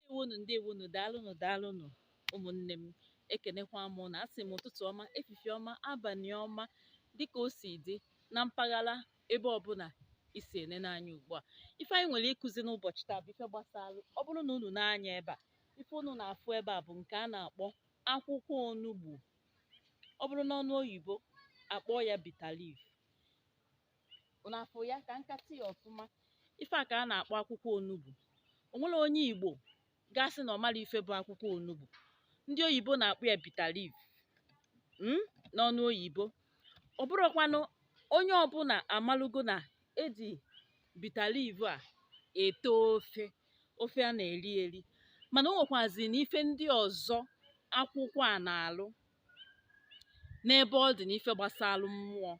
ndewonu ndewonu daalụnụ daalụnụ ụmụnne m ekenekwa m na asị m ụtụtụ ọma efifie ọma abanị ọma dịka o si dị na mpaghara ebe ọbụna i si enene anya ugbu a ife anyị nwere ịkụzi n'ụbọchị taa bụ ife gbasara ọ bụrụ na unu nee anya ebe a ife unu na-afụ ebe a bụ nke a na-akpọ akwụkwọ onugbu ọ bụrụ n'ọnụ oyibo a kpọọ ya bitter leaf unu afụ ya ka nkatị ya ọfụma ife a ka a na-akpọ akwụkwọ onugbu o nwerọ onye igbo ga-asị na ọ marọ ife bụ akwụkwọ onugbu ndị oyibo na-akpọ ya bitter leaf mm, n'ọnụ oyibo ọ bụrụkwanụ onye ọbụna amalugo na e ji bitter leaf a ete ofe ofe a na-eri eri mana o nwekwazi na ife ndị ọzọ akwụkwọ a na-alụ n'ebe ọ dị n'ife gbasara mmụọ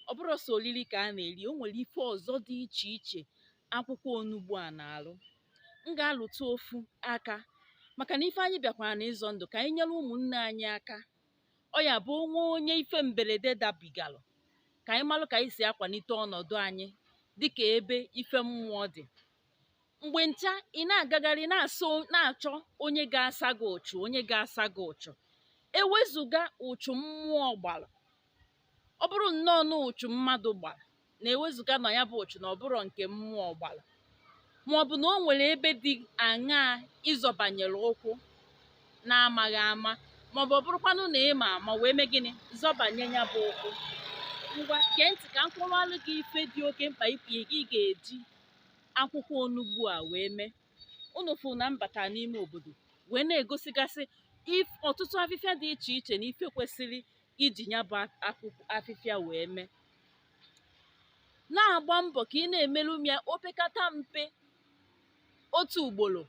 ọ bụrọ sọ oriri ka a na-eri o nwere ife ọzọ dị iche iche akwụkwọ onugbu a na-alụ m ga-alụtụ ofu aka maka na ife anyị bịakwara na ịzọ ndụ ka anyị nyere ụmụnne anyị aka ọ ya bụ o nwee onye ife mberede dabigalụ ka anyị malụ ka anyị si akwanite ọnọdụ anyị dịka ebe ife mmụọ dị mgbe ncha ị na-agagharị na-achọ onye ga-asa gị ụchụ onye ga-asa gị ụchụ ewezụga ụchụ mmụọ gbara ọ bụrụ nnọọ na ụchụ mmadụ gbara na ewezụga na ya bụ ụchụ na ọ bụrọ nke mmụọ gbara ma ọ bụ na o nwere ebe dị aṅaa ị zọbanyere ụkwụ na-amaghị ama ma ọ bụ ọ bụrụkwanụ na ị ma ama wee mee gịnị zọbanye ya bụ ụkwụ ngwa gee ntị ka m kọwalụ gị ife dị oke mkpa ị ga-eji akwụkwọ onugbu a wee mee unu fụ na m bata n'ime obodo wee na-egosigasị ọtụtụ afịfịa dị iche iche na ife kwesịrị iji ya bụ afịfịa wee mee na-agba mbọ ka ị na-emerụ m ya opekata mpe otu ugboro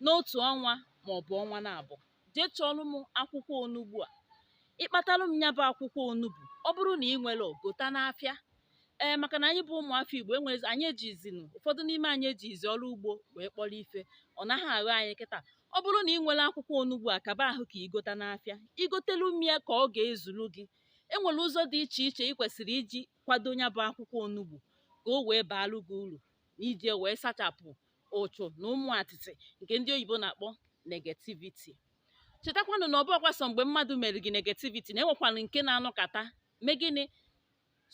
n'otu ọnwa maọbụ ọnwa naabọ jee chọọlụ m akwụkwọ onugbu a ị kpatalụ m ya bụ akwụkwọ onugbu ọ bụrụ na ị nwerọ gota n'afịa ee maka na anyị bụ ụmụafọ igbo anyị ejizinụ ụfọdụ n'ime anyị ejizi ọrụ ugbo wee kpọrọ ife ọ naghị aghọ anyị kịta ọ bụrụ na ị nwerọ akwụkwọ onugbu a kaba ahụ ka i gota n'afịa i gotelu m ya ka ọ ga-ezuru gị e nwere ụzọ dị iche iche ị kwesịrị iji kwado ya bụ akwụkwọ onugbu ka o wee baalụ gị uru na iji wee sachapụ ụchụ na ụmụ atịtị nke ndị oyibo na-akpọ negativity chetakwanụ na ọ bụhọkwa sọ mgbe mmadụ mere gị negativity na e nwekwanụ nke na-anọkata mee gịnị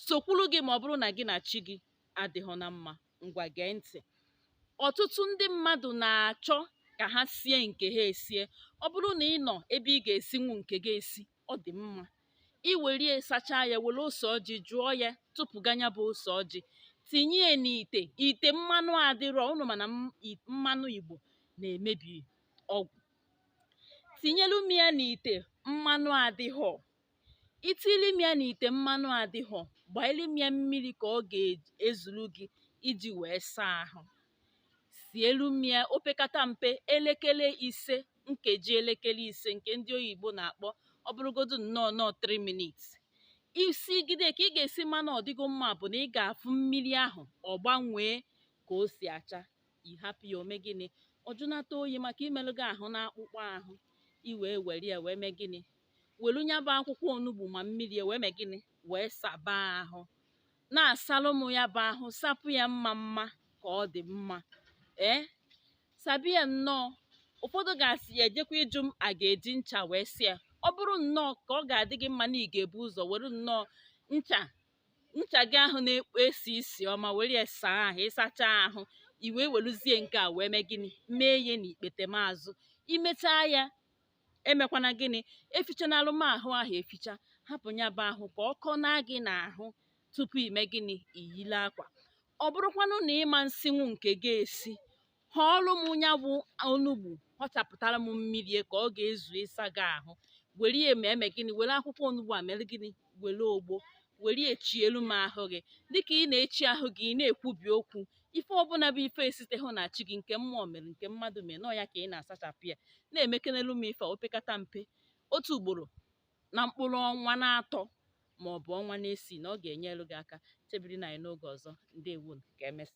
sokwuru gị ma ọ bụrụ na gị na chi gị adịhọ na mma ngwa gee ntị ọtụtụ ndị mmadụ na-achọ ka ha sie nke ha esie ọ bụrụ na ị nọ ebe ị ga-esinwu nke gị esi ọ dị mma i were ya sachaa ya were ose ọjị jụọ ya tụpụga ya bụ ose ọjị tinye ya n'ite ite mmanụ adịrọ unu ma na mmanụ igbo na-emebi ọgwụ tinyelu m ya n'ite mmanụ adịghọ i tili m ya n'ite mmanụ adịghọ gbaili m ya mmiri ka ọ ga-ezuru gị iji wee saa ahụ sielu m ya opekata mpe elekere ise nkeji elekere ise nke ndị oyibo na-akpọ ọ bụrụgodu nnọọ nọọ 3 minutes i sigide ka ị ga-esi ma na ọ dịgo mma bụ na ị ga-afụ mmiri ahụ ọ gbanwee ka o si acha ị hapụ ya o mee gịnị ọ jụnata oyi maka imelụ gị ahụ na akpụkpọ ahụ i wee were ya wee mee gịnị welu nya bụ akwụkwọ onugbu ma mmiri wee mee gịnị wee saba ahụ na-asalụ m ya bụ ahụ sapụ ya mma mma ka ọ dị mma ee sabi ya nnọọ ụfọdụ ga-asị ya ejekwa ịjụ m a ga-eji ncha wee saa ya ọ bụrụ nnọọ ka ọ ga-adị gị mma na ị ga-ebu ụzọ were nnọọ ncha ncha gị ahụ na-ekpo esi isi ọma were ya saa ahụ ị sachaa ahụ i wee weluzie nke a wee mee gịnị mee ya n'ikpete maazụ i mechaa ya emekwana gịnị efichanalụ m ahụ ahụ eficha hapụ ya bụ ahụ ka ọ kọọ na gị n'ahụ tupu ime gịnị iyile akwa ọ bụrụkwanụ na ị ma nsinwu nke gị esi họọlụ m ya bụ onugbu họchapụtara m mmiri ya ka ọ ga-ezu ịsa gị ahụ were ya ma eme gịnị were akwụkwọ onugbu a mere gịnị were ogbo were echielu m ahụ gị dịka ị na-echi ahụ gị ị na-ekwubi okwu ife ọbụla bụ ife esitehụ na chi gị nke mmụọ mere nke mmadụ mere na ọ ya ka ị na-asachapụ ya na-emekenelu m ife opekata mpe otu ugboro na mkpụrụ ọnwa n'atọ ma ọ bụ ọnwa n'isii na ọ ga-enyelu gị aka chebirinụ anyị n'oge ọzọ ndewonu ka emesịa